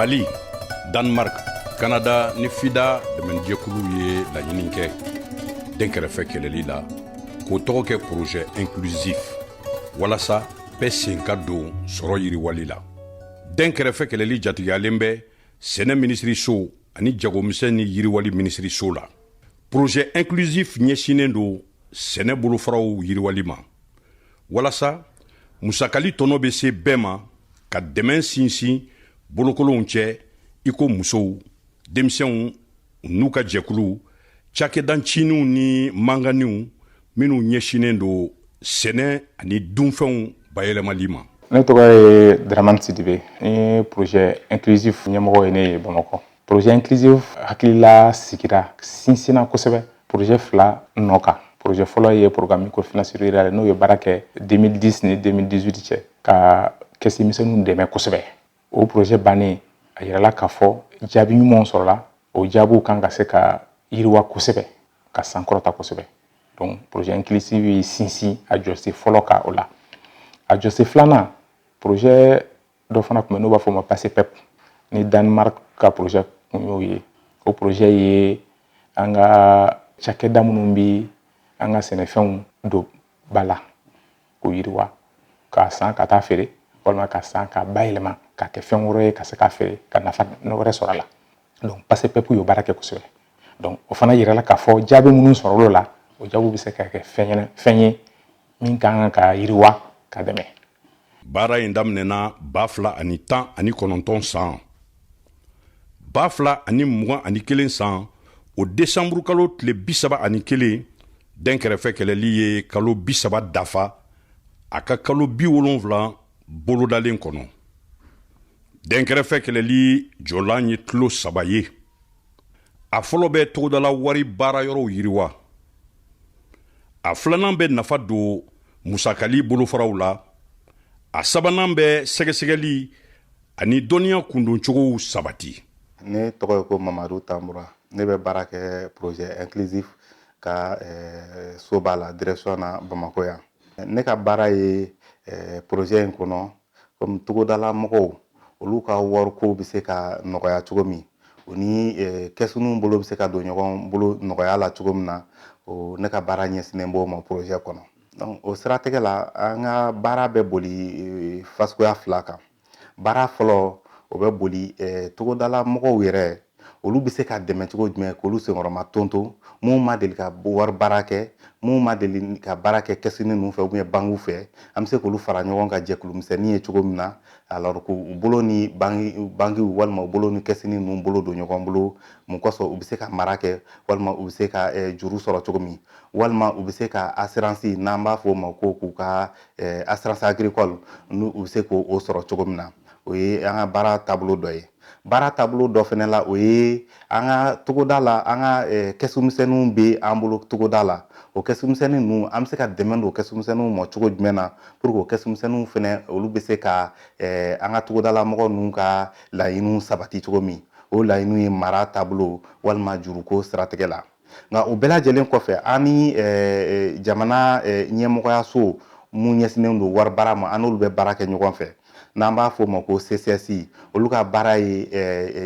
mali danemark kanada ni fida dɛmɛnijɛkulu ye laɲini kɛ dɛnkɛrɛfɛ kɛlɛli la k'o tɔgɔ kɛ projet inclusif walasa bɛɛ sen ka don sɔrɔ yiriwali la dɛnkɛrɛfɛ kɛlɛli jatigiyalen bɛ sɛnɛ minisiriso ani jagomisɛn ni yiriwali minisiriso la projet inclusif ɲɛsinnen don sɛnɛ bolofaraww yiriwali ma walasa musakali tɔnɔ bɛ se bɛɛ ma ka dɛmɛ sinsin bolokolonw cɛ iko musow denmisɛnw n'u ka jɛkuluw cakɛdancininw ni manganiw minnu ɲɛsinnen don sɛnɛ ani dunfɛnw bayɛlɛmali ma ne tɔgɔ ye dramane sidibe projet inclusif ɲɛmɔgɔ ye ne ye bamakɔ projet inclusif hakilila sigira sinsinna kosɛbɛ projet fila nɔ kan projet fɔlɔ ye programme microfinance rurale ye n'o ye baara kɛ deux mille dix ni deux mille dix-huit cɛ ka kɛsu misɛnw dɛmɛ kosɛbɛ o projet bannen a yirala k'a fɔ jaabi ɲumanw sɔrɔla o jaabiw kan ka se ka yiriwa kosɛbɛ ka sankɔrɔta kosɛbɛ projet inclusif ye sinsin a jɔsen fɔlɔ kan o la a jɔsen filanan projet dɔ fana tun bɛ n'o b'a fɔ ma pacepep ni danemark ka projet kun y'o ye o projet ye an ka cakɛda minnu bɛ an ka sɛnɛfɛnw don ba la k'o yiriwa k'a san ka taa feere walima k'a san k'a bayɛlɛma k'a kɛ fɛn wɛrɛ ye ka se k'a feere ka nafa wɛrɛ sɔrɔ a la donc pacepep ye baara kɛ kosɛbɛ donc o fana yirala k'a fɔ jaabi minnu sɔrɔla o jaabiw bɛ se ka kɛ fɛn fɛn ye min ka kan ka yiriwa ka dɛmɛ baara in daminɛna ba fila ani tan ani kɔnɔntɔn san ba fila ani mugan ani kelen san o desanburu kalo tile bisaba ani kelen dɛnkɛrɛfɛ kɛlɛli ye kalo bisaba dafa a ka kalo biwolonfila bolodalen kɔnɔ dɛnkɛrɛfɛ kɛlɛli jɔlan ye tulo saba ye a fɔlɔ bɛ togodala wari baara yɔrɔw yiriwa a filanan bɛ nafa don musakali bolofaraw la a sabanan bɛ sɛgɛsɛgɛli ani dɔnniya kundoncogow sabati ne tɔgɔ ye ko mamadu tanbura ne bɛ baara kɛ projet inclusif ka eh, soba la direction na bamako yan ne ka baara ye eh, projet in kɔnɔ kɔmi togodala mɔgɔw olu ka wariko bɛ se ka nɔgɔya cogo min u ni kɛsuniw bolo bɛ se ka don ɲɔgɔn bolo nɔgɔya la cogo min na o ne ka baara ɲɛsinnen b'o ma porozɛ kɔnɔ donc o siratigɛ la an ka baara bɛ boli fan suguya fila kan baara fɔlɔ o bɛ boli togodala mɔgɔw yɛrɛ olu bɛ se ka dɛmɛ cogo jumɛn k'olu senkɔrɔmadondon minnu ma deli ka wari baara kɛ minnu ma deli ka baara kɛ kɛsini ninnu fɛ ou bien bankiw fɛ an bɛ se k'olu fara ɲɔgɔn kan jɛkulumisɛnnin ye cogo min na alors que u bolo ni bankiw walima u bolo ni kɛsini ninnu bolo don ɲɔgɔn bolo mun kosɔn u bɛ se ka mara kɛ walima u bɛ se ka eh, juru sɔrɔ cogo min walima u bɛ se ka assurance n'an b'a fɔ o ma ko k'u ka eh, assurance agricole n'u bɛ se k'o sɔrɔ cogo min na o ye an ka baara taabolo dɔ ye Baara taabolo dɔ fana la o ye an ka togoda la an ka kɛsumisɛnninw bɛ an bolo togoda la o kɛsumisɛnnin ninnu an bɛ se ka dɛmɛ don kɛsumisɛnninw ma cogo jumɛn na pour que o kɛsumisɛnninw fana olu bɛ se ka an ka togodala mɔgɔ ninnu ka laɲiniw sabati cogo min o laɲiniw ye mara taabolo walima juruko siratigɛ la nka o bɛɛ lajɛlen kɔfɛ an ni jamana ɲɛmɔgɔyaso minnu ɲɛsinnen don wari baara ma an n'olu bɛ baara kɛ ɲɔgɔn fɛ n'an b'a fɔ o ma ko CCS olu ka baara ye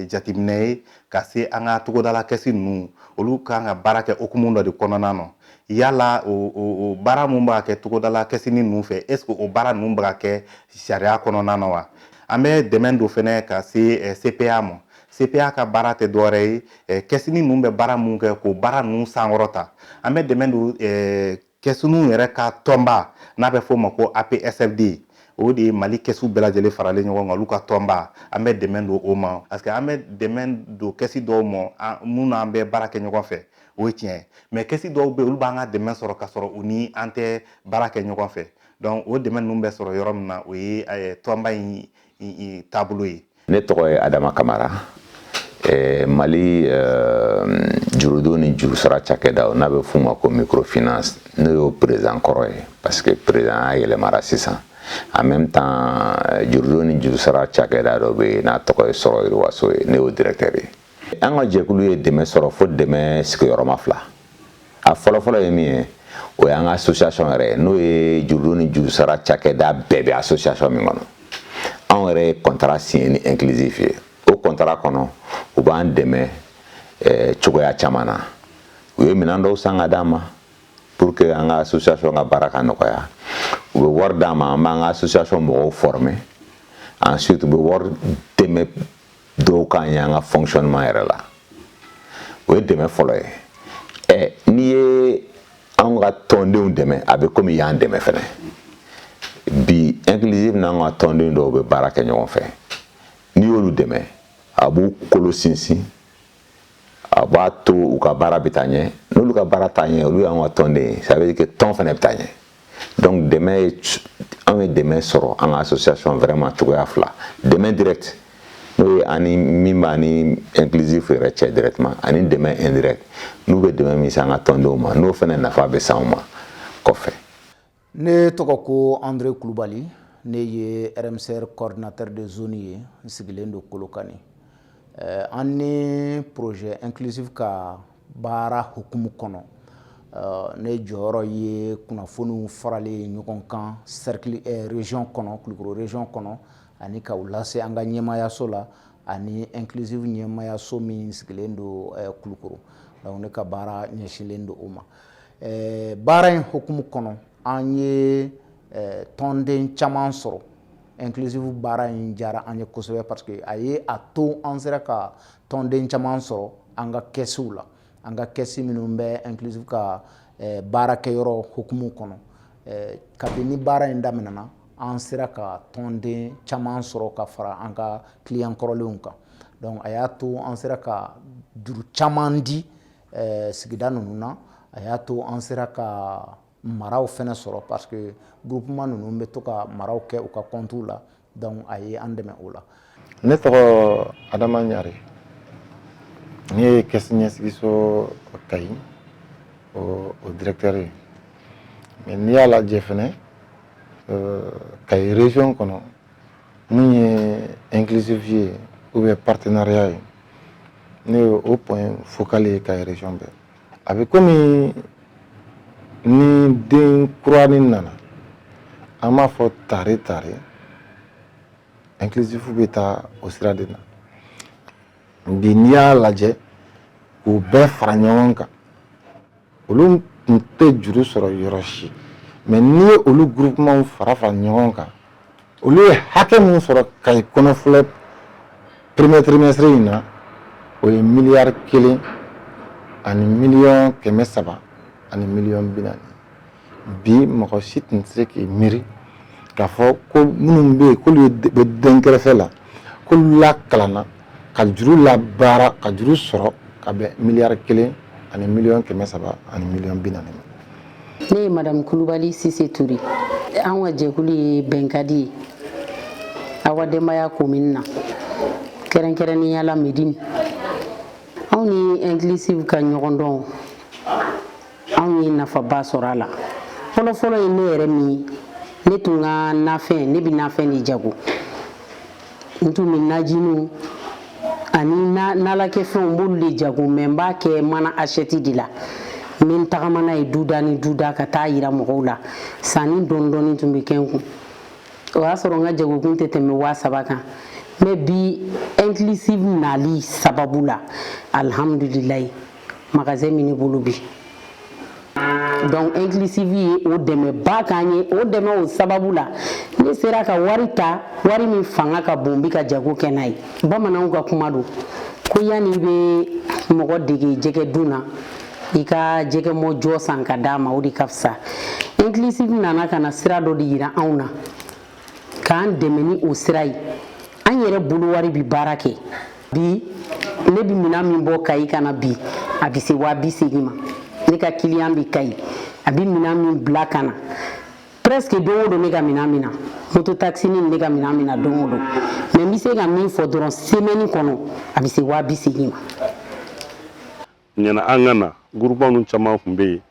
jateminɛ ye ka se an ka togodala kɛsi ninnu olu kan ka baara kɛ hukumu dɔ de kɔnɔna na yala o baara minnu b'a kɛ togodala kɛsini ninnu fɛ est-ce que o baara ninnu bɛ ka kɛ sariya kɔnɔna na wa an bɛ dɛmɛ don fɛnɛ ka se CPA ma CPA ka baara tɛ dɔwɛrɛ ye eh, kɛsini ninnu bɛ baara mun kɛ k'o baara ninnu sankɔrɔta an bɛ dɛmɛ don eh, kɛsiniw yɛrɛ ka tɔnba n'a bɛ f'o ma ko APSFD o de ye mali kɛsu bɛɛ lajɛlen faralen ɲɔgɔn kan olu ka tɔnba an bɛ dɛmɛ don o ma parce que an bɛ dɛmɛ don kɛsi dɔw ma minnu n'an bɛ baara kɛ ɲɔgɔn fɛ o ye tiɲɛ ye mais kɛsi dɔw bɛ olu b'an ka dɛmɛ sɔrɔ ka sɔrɔ u ni an tɛ baara kɛ ɲɔgɔn fɛ donc o dɛmɛ ninnu bɛ sɔrɔ yɔrɔ min na o ye tɔnba in taabolo ye ne tɔgɔ ye adama kamara eh, mali eh, jurudo ni jurusara cakɛdaw n'a bɛ f'u ma ko microfinance ne y'o président kɔrɔ ye parce que président a yɛlɛmara sisan en même temps jurudo ni jurusara cakɛda dɔ bɛ yen n'a tɔgɔ ye sɔrɔ yiriwaso ye ne y'o directeur ye an ka jɛkulu ye dɛmɛ sɔrɔ fo dɛmɛ sigiyɔrɔma fila a fɔlɔfɔlɔ ye min ye o y'an ka association yɛrɛ ye n'o ye jurudo ni jurusara cakɛda bɛɛ bɛ association min kɔnɔ anw yɛrɛ ye kɔntara siɲɛ ni inclusif ye o kɔntara kɔnɔ u b'an dɛmɛ eh, cogoya caman na u ye minɛn dɔw san ka d'an ma pour que an ka association ka baara ka nɔgɔya u bɛ wari d'an ma an b'an ka association mɔgɔw former ensuite u bɛ wari dɛmɛ dɔw k'an ye an ka fonctionnement yɛrɛ la o ye dɛmɛ fɔlɔ ye ɛ n'i ye an ka tɔndenw dɛmɛ a bɛ komi i y'an dɛmɛ fɛnɛ bi inclusif n'an ka tɔnden dɔw bɛ baara kɛ ɲɔgɔn fɛ n'i y'olu dɛmɛ a b'u kolo sinsin a b'a to u ka baara bɛ taa ɲɛ n'olu ka baara taa ɲɛ olu y'an ka tɔnden ye ça veut dire que tɔn fɛnɛ bɛ taa ɲɛ donc dɛmɛ ye anw ye dɛmɛ sɔrɔ an ka association vraiment cogoya fila dɛmɛ direct n'o ye ani min b'a ni inclusif yɛrɛ cɛ directement ani dɛmɛ indirect n'u bɛ dɛmɛ min se an ka tɔndenw ma n'o fɛnɛ nafa bɛ s'anw ma kɔfɛ ne tɔgɔ ko andre kulubali ne ye rmcr coordinateur de zone ye n sigilen don kolokani eh, an ni projet inclusif ka baara hukumu kɔnɔ ne jɔyɔrɔ ye kunnafoniw faralen ye ɲɔgɔn kan région kɔnɔ kulukɔrɔ région kɔnɔ ani ka lase an ka ɲɛmaayaso la ani inclusif ɲɛmaayaso min sigilen don kulukɔrɔ ne ka baara ɲɛsinlen don o ma baara in hukumu kɔnɔ an ye tɔnden caman sɔrɔ inclusif baara in diyara an ye kosɛbɛ parce que a ye a to an sera ka tɔnden caman sɔrɔ an ka kɛsiw la an ka kɛsi minnu bɛ inclusif ka eh, baarakɛyɔrɔ hukumu kɔnɔ eh, kabini baara in daminɛna an sera ka tɔnden caman sɔrɔ ka fara an ka kiliyan kɔrɔlenw kan donc a y'a to an sera ka juru caman di eh, sigida ninnu na a y'a to an sera ka maraw fɛnɛ sɔrɔ parce que groupement ninnu bɛ to ka maraw kɛ u ka compte la donc a ye an dɛmɛ o la. Ne tɔgɔ Adama Ɲare ne ye caisse ɲɛsigiso Kayi o o directeur ye mais n'i y'a lajɛ fɛnɛ euh, Kayi région kɔnɔ min ye inclusif ye ou bien partenariat ye ne ye o point focal ye Kayi région bɛɛ. a bɛ komi ni den kuranin nana an b'a fɔ tare tare inclusif bɛ taa o sira de na bi n'i y'a lajɛ k'u bɛɛ fara ɲɔgɔn kan olu tun tɛ juru sɔrɔ yɔrɔ si mais n'i ye olu groupement fara fara ɲɔgɔn kan olu ye hakɛ min sɔrɔ kayi kɔnɔ filɛ premier trimestre in na o ye miliyari kelen ani miliyɔn kɛmɛ saba ani miliyɔn bi naani bi mɔgɔ si tun tɛ se k'i miiri k'a fɔ ko minnu bɛ yen k'olu bɛ dɛnkɛrɛfɛ la k'olu lakalanna ka juru labaara ka juru sɔrɔ ka bɛn miliyari kelen ani miliyɔn kɛmɛ saba ani miliyɔn bi naani ma ne ye madamu kulubali sise ture an ka jɛkulu ye bɛnkadi ye awa denbaya commune na kɛrɛnkɛrɛnnenya la medini anw ni inclusif ka ɲɔgɔndɔn anw ye nafaba sɔrɔ a la fɔlɔfɔlɔ ye ne yɛrɛ min ne tun ka nafɛn ne bɛ nafɛn de jago n tun bɛ najiniw ani nalakɛfɛnw n b'olu de jago mais n b'a kɛ mana asɛti de la n bɛ n tagama n'a ye duda ni duda ka taa yira mɔgɔw la sanni dɔɔni dɔɔni tun bɛ kɛ n kun o y'a sɔrɔ n ka jagokun tɛ tɛmɛ waa saba kan mais bi inclusive nali sababu la alhamdulilayi magasin min ne bolo bi donc inclusive ye o dɛmɛba k'an ye o dɛmɛ o sababu la ne sera ka wari ta wari min fanga ka bon bi ka jago kɛ n'a ye bamananw ka kuma don ko yanni i bɛ mɔgɔ dege jɛgɛ dun na i ka jɛgɛ mɔn jɔ san ka d'a ma o de ka fisa inclusive nana ka na sira dɔ de yira anw na k'an dɛmɛ ni o sira ye an yɛrɛ bolo wari bi baara kɛ bi ne bi minan min bɔ kayi ka na bi a bi se waa bi segin ma ne ka kiliyan bi kayi a bi minan min bila ka na presque don o don ne ka minan min na moto taxini ne ka minan min na don o don mais n bɛ se ka min fɔ dɔrɔn semaine kɔnɔ a bɛ se waa bi segin ma yanni an ka na groupement ninnu caman tun bɛ yen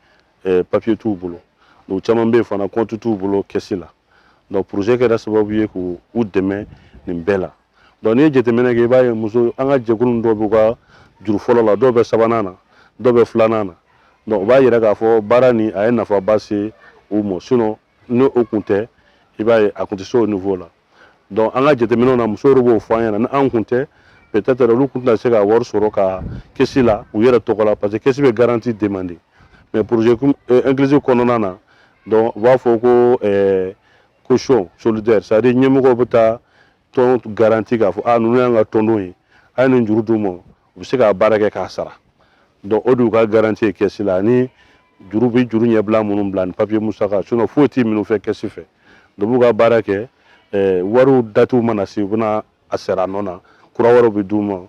eh, papiye t'u bolo u caman bɛ yen fana kɔntu t'u bolo kɛsi la donc projet kɛra sababu ye k'u dɛmɛ nin bɛɛ la donc n'i ye jateminɛ kɛ i b'a ye muso an ka jɛkulu dɔw b'u ka juru fɔlɔ la dɔw bɛ sabanan na dɔw bɛ filanan na donc o b'a yira k'a fɔ baara nin a ye nafaba se u ma sinon ni o kun tɛ i b'a ye a kun tɛ se o niveau la donc an ka jateminɛw na musow b'o fɔ an ɲɛna ni an kun tɛ peut-être olu kun tɛna se ka wari sɔrɔ ka kɛsi la u yɛrɛ tɔgɔ la parce que kɛsi bɛ garanti demander mais projet euh, inclusif kɔnɔna na donc u b'a fɔ ko eh, caution solidaire c'est à dire ɲɛmɔgɔw bɛ taa tɔn garanti k'a fɔ ah, ninnu y'an ka tɔndenw ye a ye nin juru d'u ma u bɛ se ka baara kɛ k'a sara donc o de y'u ka garanti ye kɛsi la ani juru bɛ juru ɲɛbila minnu bila ni papiye musaka sinon foyi tɛ minɛ u fɛ kɛsi fɛ donc u b'u ka baara kɛ eh, wariw datiw mana se u bɛna a sara a nɔ na kura wɛrɛw bɛ d'u ma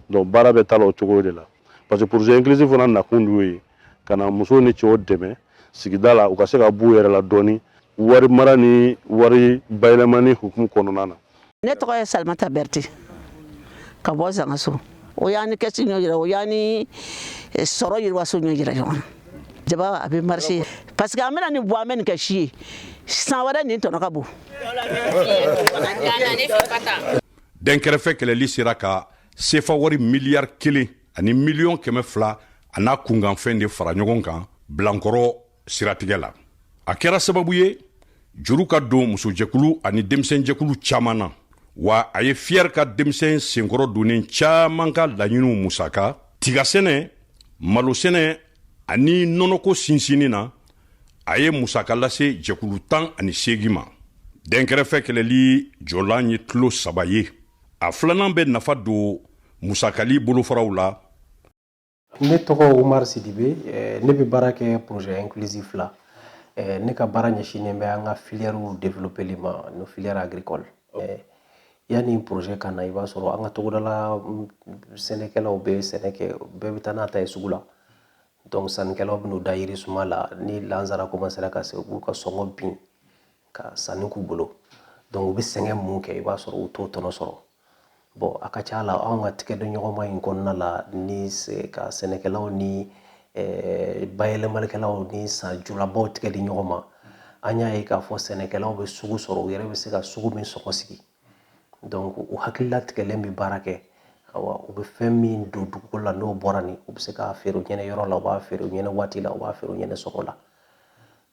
donc baara bɛ taa la o cogo de la parce que projet inclusif fana nakun de y'o ye ka na musow ni cɛw dɛmɛ sigida la u ka se ka b'u yɛrɛ la dɔɔni wari mara ni wari bayɛlɛmani hukumu kɔnɔna na ne tɔgɔ ye salimata bɛrɛte ka bɔ zangaso o y'an ni kɛsi ɲɔ jira o y'an ni eh, sɔrɔ yiriwaso ɲɔ jira ɲɔgɔn na jaba a bɛ marché parce que an bɛna nin bɔ an bɛ nin kɛ si ye san wɛrɛ nin tɔnɔ ka bon dɛnkɛrɛfɛ kɛlɛli sera ka sefa wari miliyari kelen ani miliyɔn kɛmɛ fila a n'a kunkanfɛn de fara ɲɔgɔn kan bilankɔrɔ siratigɛ la a kɛra sababu ye juru ka don musojɛkulu ani denmisɛnjɛkulu caaman na wa a ye fiyɛri ka denmisɛn senkɔrɔ donnen caaman ka laɲiniw musaka tigasɛnɛ malosɛnɛ ani nɔnɔko sinsinni na a ye musaka lase jɛkulu tan ani seegin ma dɛnkɛrɛfɛ kɛlɛli jɔlan ye kulu saba ye a filanan bɛ nafa don musakali bolofaraw la Ne tɔgɔ Umar Sidibe ɛɛ ne bɛ baara kɛ projet inclusif la ɛɛ ne ka baara ɲɛsinnen bɛ an ka filièrew développeli ma nos filières agricoles ɛɛ yanni projet ka na i b'a sɔrɔ an ka togodala sɛnɛkɛlaw bɛ sɛnɛ kɛ bɛɛ bɛ taa n'a ta ye sugu la donc sannikɛlaw bɛ n'u da yirisuma la ni lansara commencera ka se u b'u ka sɔngɔ bin ka sanni k'u bolo donc u bɛ sɛgɛn mun kɛ i b'a sɔrɔ u t'o tɔnɔ sɔrɔ Bon a ka ca la anw ka tigɛdiɲɔgɔnma in kɔnɔna la ni ka sɛnɛkɛlaw ni bayɛlɛmalikɛlaw ni sanjulabaw tigɛ di ɲɔgɔn ma an y'a ye k'a fɔ sɛnɛkɛlaw bɛ sugu sɔrɔ u yɛrɛ bɛ se ka sugu min sɔngɔ sigi donc u hakili latigɛlen bɛ baara kɛ u bɛ fɛn min don dugu la n'o bɔra nin u bɛ se k'a feere u ɲɛna yɔrɔ la u b'a feere u ɲɛna waati la u b'a feere u ɲɛna sɔngɔ la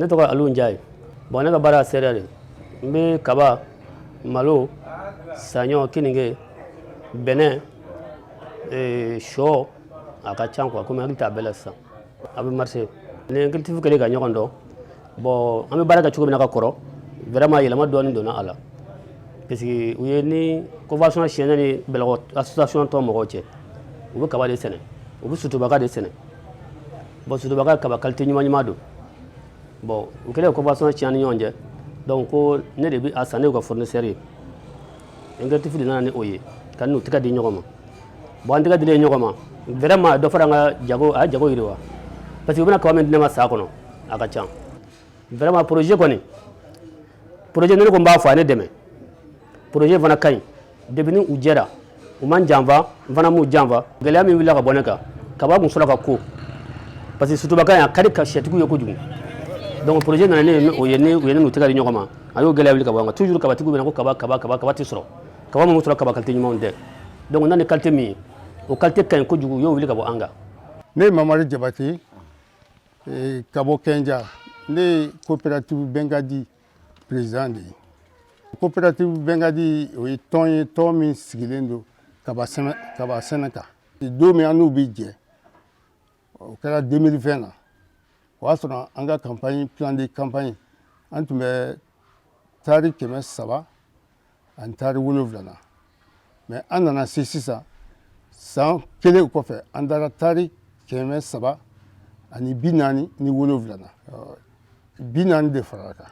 ne tɔgɔ Alu Njaye bon ne ka baara céréale de n bɛ kaba malo saɲɔ keninge bɛnɛ eh, shɔ a ka ca quoi komi hakili t'a bɛɛ la sisan a bɛ marché ni inclusif kɛlen ka ɲɔgɔn dɔn bon an bɛ baara kɛ cogo min na kakɔrɔ vraiment yɛlɛma dɔɔni donna a la parce que u ye ni convention signé ni bɛlɛkɔ association tɔnmɔgɔw cɛ u bɛ kaba de sɛnɛ u bɛ sutubaka de sɛnɛ Bon sutubaka kaba kalite ɲuman ɲuman don bon u kɛlen ka convention signé ni ɲɔgɔn cɛ donc ko ne de bɛ a san ne ka fournisseur ye inclusif de nana ni o ye ka n'u tɛgɛ di ɲɔgɔn ma bon an tɛgɛ dilen ɲɔgɔn ma vraiment dɔ fara an ka jago a ye jago yiriwa parce que u bɛna kaba min di ne ma san kɔnɔ a ka ca vraiment projet kɔni projet ne kɔni b'a fɔ a ne dɛmɛ projet fana ka ɲi depuis ni u jɛra u ma n janfa n fana m'u janfa gɛlɛya min wulila ka bɔ ne kan kaba kun sɔrɔ ka ko parce que sutubaka in a ka di ka sɛtigiw ye kojugu donc projet nana ne o ye ne u ye ne n'u tɛgɛ di ɲɔgɔn ma a y'o gɛlɛya wuli ka bɔ an kan toujours kabatigiw bɛ na ko kaba kaba kaba kaba tɛ sɔrɔ kaba minnu sɔrɔ kaba kalite ɲumanw tɛ donc na ni kalite min ye o kalite ka ɲi kojugu u y'o wuli ka bɔ an kan ne ye Mamari Jabate ka bɔ Kɛnja ne ye coopérative bɛnkadi président de ye coopérative bɛnkadi o ye tɔn ye tɔn min sigilen don kaba sɛnɛ kan don min an n'u bɛ jɛ o kɛra 2020 na o y'a sɔrɔ an ka campagne plan de campagne an tun bɛ taari kɛmɛ saba ani taari wolonwula mais an nana se sisan san kelen kɔfɛ an taara taari kɛmɛ saba ani bi naani ni wolonwula bi naani de farala kan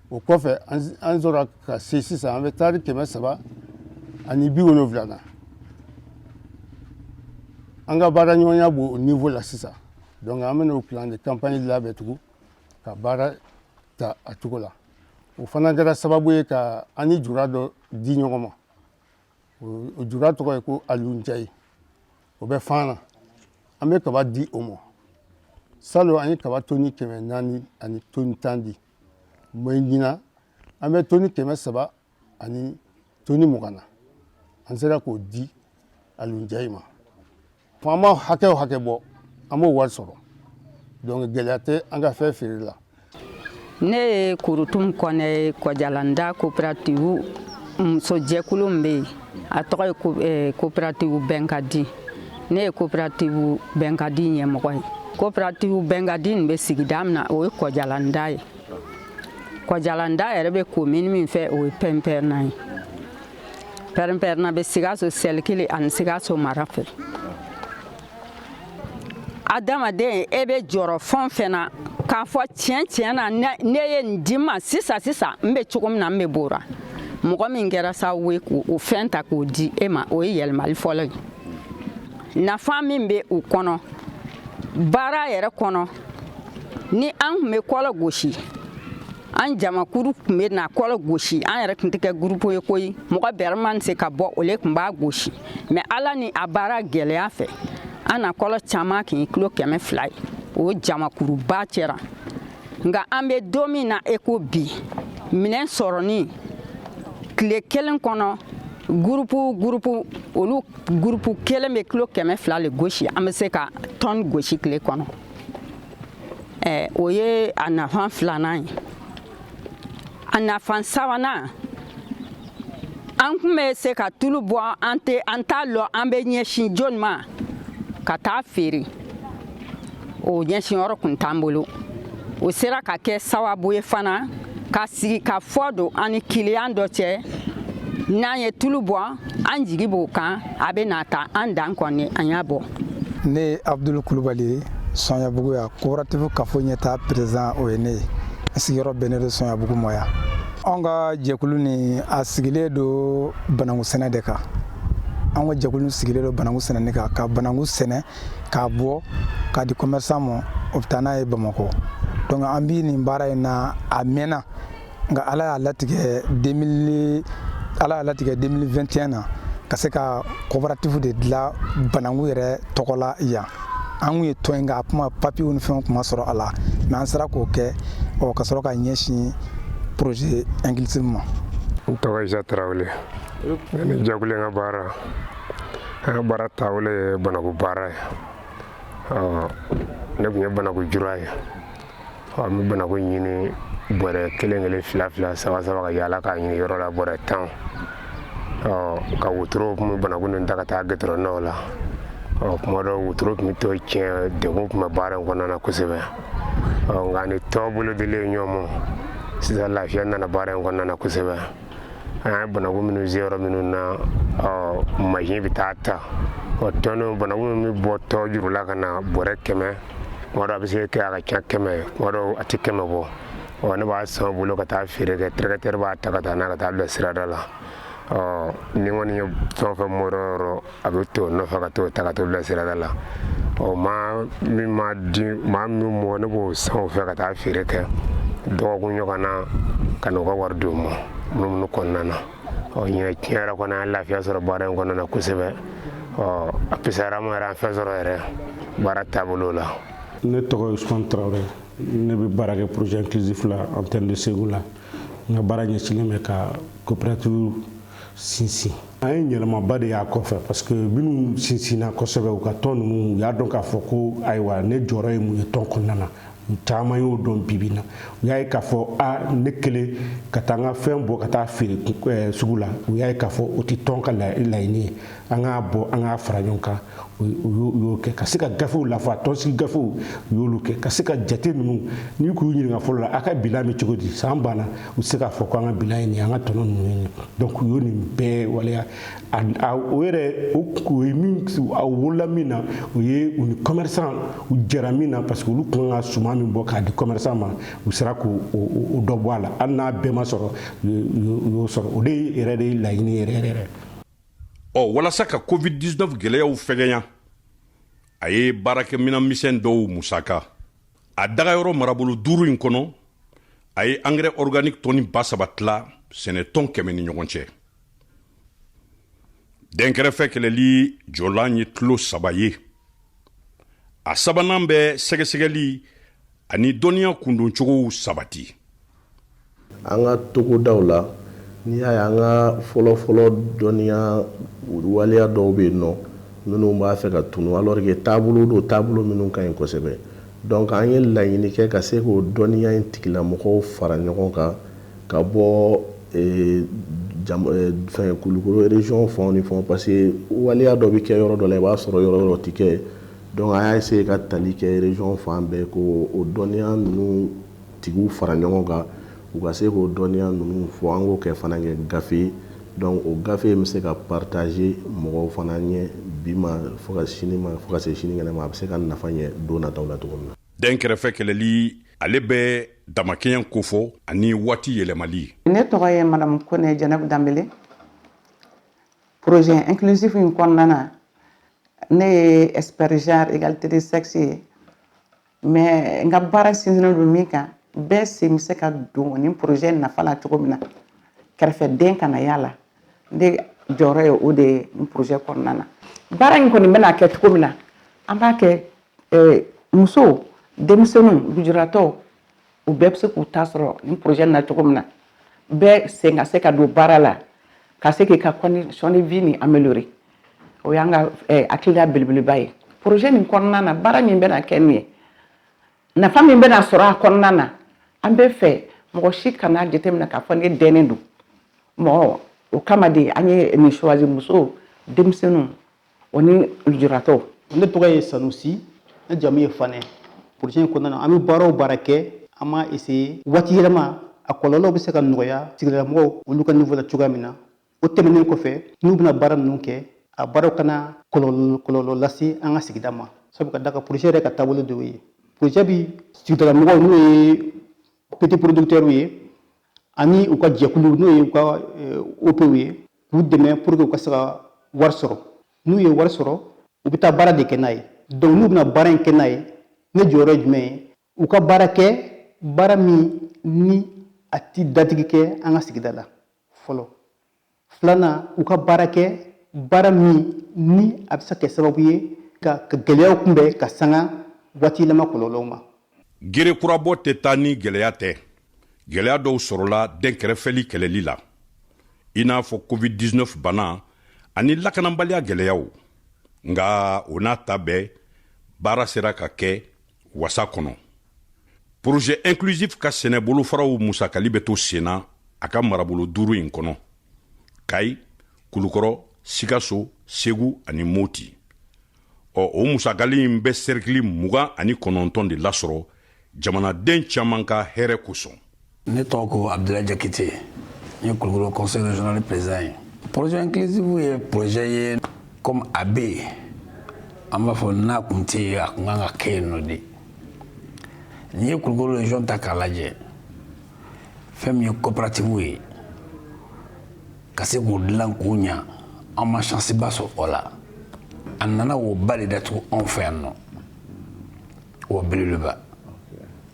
o kɔfɛ an sɔrɔ ka se sisan an bɛ taari kɛmɛ saba ani bi wolonwula na an ka baara ɲɔgɔnya b'o o niveau la sisan donc an bɛna o plan de campagne labɛn tugun ka baara ta a cogo la o fana kɛra sababu ye ka an ni jura dɔ di ɲɔgɔn ma o jura tɔgɔ ye ko alu njayi o bɛ fan na an bɛ kaba di o ma salon an ye kaba toni kɛmɛ naani ani toni tan di mais ɲinan an bɛ toni kɛmɛ saba ani toni mugan na an sera k'o di alu njayi ma fo an ma hakɛ o hakɛ bɔ an b'o wari sɔrɔ donc gɛlɛya tɛ an ka fɛn feere la ne ye kurutum kɔnɛ ye kɔjalanda coopérative musojɛkulu min bɛ yen a tɔgɔ ye coopérative eh, bɛnkadi ne ye coopérative bɛnkadi ɲɛmɔgɔ ye coopérative bɛnkadi nin bɛ sigida min na o ye kɔjalanda ye kɔjalanda yɛrɛ bɛ commune min fɛ o ye pɛnpɛrɛnna ye pɛrɛnpɛrɛnna bɛ sikaso sɛlikili ani sikaso mara fɛ adamaden e bɛ jɔrɔ fɛn o fɛn na k'a fɔ tiɲɛ tiɲɛ na n'e ye nin di n ma sisan sisan n bɛ cogo min na n bɛ bɔ o ra mɔgɔ min kɛra sababu ye k'o fɛn ta k'o di e ma o ye yɛlɛmali fɔlɔ ye nafa min bɛ o kɔnɔ baara yɛrɛ kɔnɔ ni an tun bɛ kɔlɔ gosi an jamakuru tun bɛ na kɔlɔ gosi an yɛrɛ tun tɛ kɛ gurupu ye koyi mɔgɔ bɛrɛ mana se ka bɔ o le tun b'a gosi mais ala ni a baara gɛlɛya fɛ an na kɔlɔ caman kɛ kilo kɛmɛ fila ye o jamakuruba cɛ ra nka an bɛ don min na i ko bi minɛn sɔrɔni tile kelen kɔnɔ gurupu gurupu olu gurupu kelen bɛ kilo kɛmɛ fila le gosi an bɛ se ka toni gosi tile kɔnɔ eh, o ye a nafan filanan ye a nafan sabanan an tun bɛ se ka tulu bɔ an tɛ an t'a lɔn an bɛ ɲɛsin jɔni ma ka taa feere o ɲɛsin yɔrɔ kun t'an bolo o sera ka kɛ sababu ye fana ka sigi ka fɔ don an ni kiliyan dɔ cɛ n'an ye tulu bɔ an jigi b'o kan a bɛ na ta an dan kɔni an y'a bɔ ne ye abdul kulubali ye sɔnyabugu ya coopérative kafo ɲɛtaa président o ye ne ye n sigiyɔrɔ bɛnnen don sɔnyabugu mɔ yan anw ka jɛkulu nin a sigilen don banangu sɛnɛ de kan anw ka jɛkulu sigilen don banangu sɛnɛni kan ka banangu sɛnɛ k'a bɔ k'a di commerçant ma o bɛ taa n'a ye Bamakɔ donc an bɛ nin baara in na a mɛnna nka Ala y'a latigɛ 2000 Ala y'a latigɛ 2021 na ka se ka coopérative de dilan bananku yɛrɛ tɔgɔ la yan an kun ye tɔn in nka a kun ma papiyew ni fɛnw kun ma sɔrɔ a la mais an sera k'o kɛ ɔ ka sɔrɔ ka ɲɛsin projet inclusive ma. N tɔgɔ Isa Tarawele ne ni jɛkulu in ka baara An ka baara taabolo ye banaku baara ye ɔ ne tun ye banaku jura ye ɔ an bɛ banaku ɲini bɔrɛ kelen kelen fila fila saba saba ka yaala k'a ɲini yɔrɔ la bɔrɛ tan ɔ ka wotoro tun bɛ banaku ninnu ta ka taa gɛtɔrɔndaw la ɔ kuma dɔ wotoro tun bɛ to tiɲɛ degun tun bɛ baara in kɔnɔna na kosɛbɛ ɔ nka ni tɔn bolodili ye ɲɔgɔn ma sisan lafiya nana baara in kɔnɔna na kosɛbɛ an ye banaku minnu sen yɔrɔ minnu na mansin bɛ taa ta ɔ tɔn banaku min bɛ bɔ tɔ juru la ka na bɔrɛ kɛmɛ kuma dɔ a bɛ se kɛ a ka ca kɛmɛ kuma dɔ a tɛ kɛmɛ bɔ ɔ ne b'a san u bolo ka taa feere kɛ tracteur b'a ta ka taa n'a ka taa bila sirada la ɔ n'i kɔni ye fɛn o fɛn bɔ dɔ yɔrɔ a bɛ to nɔfɛ ka t'o ta ka t'o bila sirada la ɔ maa min ma di maa min bɔ ne b'o san o fɛ ka taa feere kɛ dɔgɔkun ɲɔgɔn na ka n'u ka wari d'u ma munumunu kɔnɔna na ɔ ɲinɛ tiɲɛ yɛrɛ kɔni an ye lafiya sɔrɔ baara in kɔnɔna na kosɛbɛ ɔ a pisara ma yɛrɛ an fɛn sɔrɔ yɛrɛ baara taabolo la ne tɔgɔ ye Usman Traore ne bɛ baara kɛ projet inclusif la antenne de Ségou la n ka baara ɲɛsinnen bɛ ka coopérative sinsin an ye yɛlɛmaba de y'a kɔfɛ parce que minnu sinsinna kosɛbɛ u ka tɔn ninnu u y'a dɔn k'a fɔ ko ayiwa ne jɔyɔrɔ ye mun ye tɔn kɔnɔna na caman y'o dɔn bibi na u y'a ye k'a fɔ a ne kelen ka taa n ka fɛn bɔ ka taa feere sugu la u y'a ye k'a fɔ o tɛ tɔn ka laɲini ye an k'a bɔ an k'a fara ɲɔgɔn kan u y'o kɛ ka se ka gafew lafa tɔnsigi gafew u y'olu kɛ ka se ka jate ninnu n'i k'u ɲininka fɔlɔ la a ka bilan bɛ cogo di san banna u se k'a fɔ ko an ka bilan ye nin an ka tɔnɔ ninnu ye donc u y'o nin bɛɛ waleya o yɛrɛ o ye min a wolola min na o ye u ni commerçant u jɛra min na parce que olu tun kan ka suman min bɔ k'a di commerçant ma u sera k'o dɔ bɔ a la hali n'a bɛɛ ma sɔrɔ u y'o sɔrɔ o de yɛrɛ de ye laɲini yɛrɛ yɛrɛ ɔ walasa ka covid-19 gwɛlɛyaw fɛgɛnya a ye baarakɛminan misɛn dɔw musaka a dagayɔrɔ marabolo duuru in kɔnɔ a ye angɛrɛ organique tɔni ba saba tila sɛnɛtɔn kɛmɛ ni ɲɔgɔn cɛ dɛnkɛrɛfɛ kɛlɛli jɔlan ye kulu saba ye a sabanan bɛ sɛgɛsɛgɛli ani dɔnniya kundoncogow sabati an ka togodaw la n'i y'a ye an ka fɔlɔfɔlɔ dɔnniya waleya dɔw bɛ yen nɔ minnu b'a fɛ ka tunu alors que taabolo don taabolo minnu ka ɲi kosɛbɛ Donc an ye laɲini kɛ ka se k'o dɔnniya in tigilamɔgɔw fara ɲɔgɔn kan ka bɔ fɛn Kulukoro région fan ni fan parce que waleya dɔ bɛ kɛ yɔrɔ dɔ la i b'a sɔrɔ yɔrɔ yɔrɔ tɛ kɛ donc an y'a essayer ka tali kɛ région fan bɛɛ k'o dɔnniya ninnu tigiw fara ɲɔgɔn kan U ka se k'o dɔnniya ninnu fɔ an k'o kɛ fana kɛ gafe ye donc o gafe in bɛ se ka partager mɔgɔw fana ɲɛ bi ma fo ka sini ma fo ka se sinikɛnɛ ma a bɛ se ka nafa ɲɛ don nataw la cogo min na. Dɛnkɛrɛfɛ kɛlɛli, ale bɛ damakɛɲɛ kofɔ ani waati yɛlɛmali. Ne tɔgɔ ye Madamu Kone Jɛnɛbu Danbele. Projet inclusif in kɔnɔna na, ne ye expert genre égalité de sexe ye. mais n ka baara sinsinnen don min kan bɛɛ sen bɛ se ka don nin projet nafa la cogo min na kɛrɛfɛdɛn kana y'a la ne jɔyɔrɔ ye o de ye nin projet kɔnɔna na baara in kɔni bɛna kɛ cogo min na an b'a kɛ eh, muso denmisɛnninw lujuratɔw u bɛɛ bɛ se k'u ta sɔrɔ nin projet na cogo min na bɛɛ sen ka se ka don baara la ka se k'i ka condition de vie nin améliorer o y'an ka eh, hakilila belebeleba ye projet nin kɔnɔna na baara min bɛna kɛ nin ye nafa min bɛna sɔrɔ a kɔnɔna na an b'a fɛ mɔgɔ si kana jateminɛ k'a fɔ ne dɛnnen don mɔgɔ o kama de an ye nin choisir muso denmisɛnninw o ni lujuratɔw ne tɔgɔ ye sanusi ne jamu ye fanɛ projet in kɔnɔna na an bɛ baara o baara kɛ an b'a essayer waati yɛlɛma a kɔlɔlɔw bɛ se ka nɔgɔya sigidalamɔgɔw olu ka niveau la cogoya min na o tɛmɛnen kɔfɛ n'u bɛna baara ninnu kɛ a baaraw kana kɔlɔlɔ lase an ka sigida ma sabu ka da kan projet yɛrɛ ka taabolo dɔw ye projet bi sigidalamɔgɔw n'o ye petit producteurs ye ani u ka jɛkulu n'o ye u ka eh, OPw ye k'u dɛmɛ pour que u ka se ka wari sɔrɔ n'u ye wari sɔrɔ u bɛ taa baara de kɛ n'a ye donc n'u bɛna baara in kɛ n'a ye ne jɔyɔrɔ ye jumɛn ye u ka baara kɛ baara min ni a ti datigi kɛ an ka sigida la fɔlɔ filanan u ka baara kɛ baara min ni a bɛ se ka kɛ sababu ye ka gɛlɛyaw kunbɛn ka sanga waati yɛlɛma kɔlɔlɔw ma gere kurabɔ tɛ taa ni gɛlɛya tɛ gɛlɛya dɔw sɔrɔla dɛnkɛrɛfɛli kɛlɛli la i n'a fɔ covid-19 bana ani lakananbaliya gɛlɛyaw nka o n'a ta bɛɛ baara sera ka kɛ wasa kɔnɔ projet inclusif ka sɛnɛ bolofaraw musakali bɛ to senna a ka marabolo duuru in kɔnɔ kayi kulukɔrɔ sikaso segu ani moti ɔ o musakali in bɛ sɛrikili mugan ani kɔnɔntɔn de lasɔrɔ jamanaden caman ka hɛrɛ kosɔn ne tɔgɔ ko abudulayi jakite n ye kulukoro conseil régional président ye projet inclusif ye projet ye comme a bɛ yen an b'a fɔ n'a kun tɛ yen a kun kan ka kɛ yen nɔ de n'i ye kulukoro région ta k'a lajɛ fɛn min ye coopératives ye ka se k'o dilan k'o ɲa an ma chance ba sɔrɔ o la a nana woba de datugu anw fɛ yan nɔ Wo belebeleba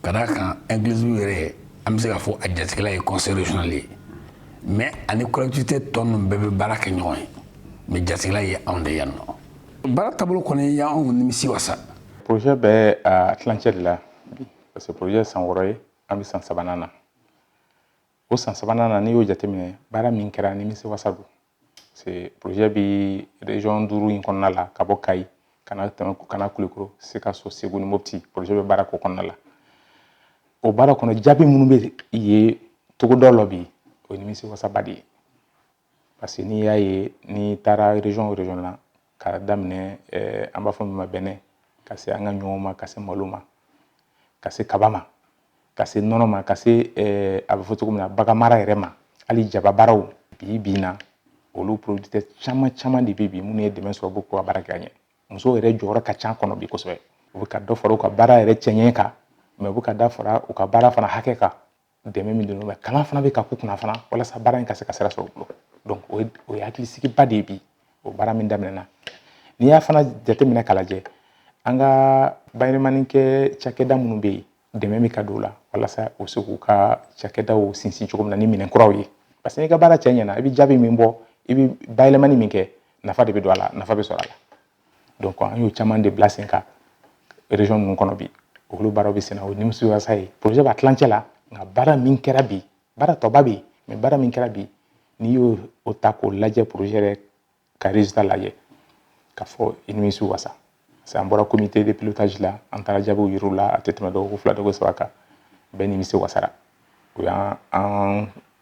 ka da a kan inclusif yɛrɛ an bɛ se k'a fɔ a jatigila ye conseil régional ye mais ani collectivité tɔ ninnu bɛɛ bɛ baara kɛ ɲɔgɔn ye mais jatigila ye anw de yan nɔ baara taabolo kɔni y'anw nimisi wasa projet bɛ tilancɛ de la parce que projet san wɔɔrɔ ye an bɛ san sabanan na o san sabanan na n'i y'o jateminɛ baara min kɛra nimisi wasa don parce que projet bi région duuru in kɔnɔna la ka bɔ Kayi ka na Kulukoro Sikaso Segu ni Mopti projet bɛ baara k'o kɔnɔna la o baara kɔnɔ jaabi minnu bɛ ye togoda la bi o ye nimisi wasaba de ye parce que n'i y'a ye n'i taara région o région na k'a daminɛ eh, an b'a fɔ min ma bɛnɛ ka se an ka ɲɔ ma ka se malo ma ka se kaba ma ka se nɔnɔ ma ka se eh, a bɛ fɔ cogo min na baganmara yɛrɛ ma hali jababaaraw bi bi na olu producteurs caman caman de bɛ bi minnu ye dɛmɛ sɔrɔ b'u ka baara kɛ ka ɲɛ musow yɛrɛ jɔyɔrɔ ka ca a kɔnɔ bi kosɛbɛ u bɛ ka dɔ fara u ka baara yɛrɛ cɛɲɛ kan mais u bɛ ka dɔ fara u ka baara fana hakɛ kan dɛmɛ min don mais kalan fana bɛ ka k'u kunna fana walasa baara in ka se ka sira sɔrɔ u bolo o ye o ye hakilisigiba de ye bi o baara min daminɛna n'i y'a fana jateminɛ k'a lajɛ an ka bayɛlɛmani kɛ cakɛda minnu bɛ yen dɛmɛ bɛ ka don o la walasa u se k'u ka cakɛdaw sinsin cogo min na ni minɛn kuraw ye parce que n'i ka baara cɛ ɲɛna i bɛ jaabi min bɔ i bɛ bayɛlɛmani min kɛ nafa de bɛ don a la nafa bɛ sɔrɔ a la donc an y'o caman de bila sen kan région ninnu kɔnɔ bi olu baara bɛ sen na o nimisi wasa ye projet b'a tilancɛ la nka baara min kɛra bi baara tɔba bɛ yen mais baara min kɛra bi n'i y'o ta k'o lajɛ projet yɛrɛ ka résultat lajɛ ka fɔ i nimisi wasa parce que an bɔra comité de pilotage la an taara jaabiw yir'u la a tɛ tɛmɛ dɔgɔkun fila dɔgɔkun saba kan bɛɛ nimisi wasara o y' an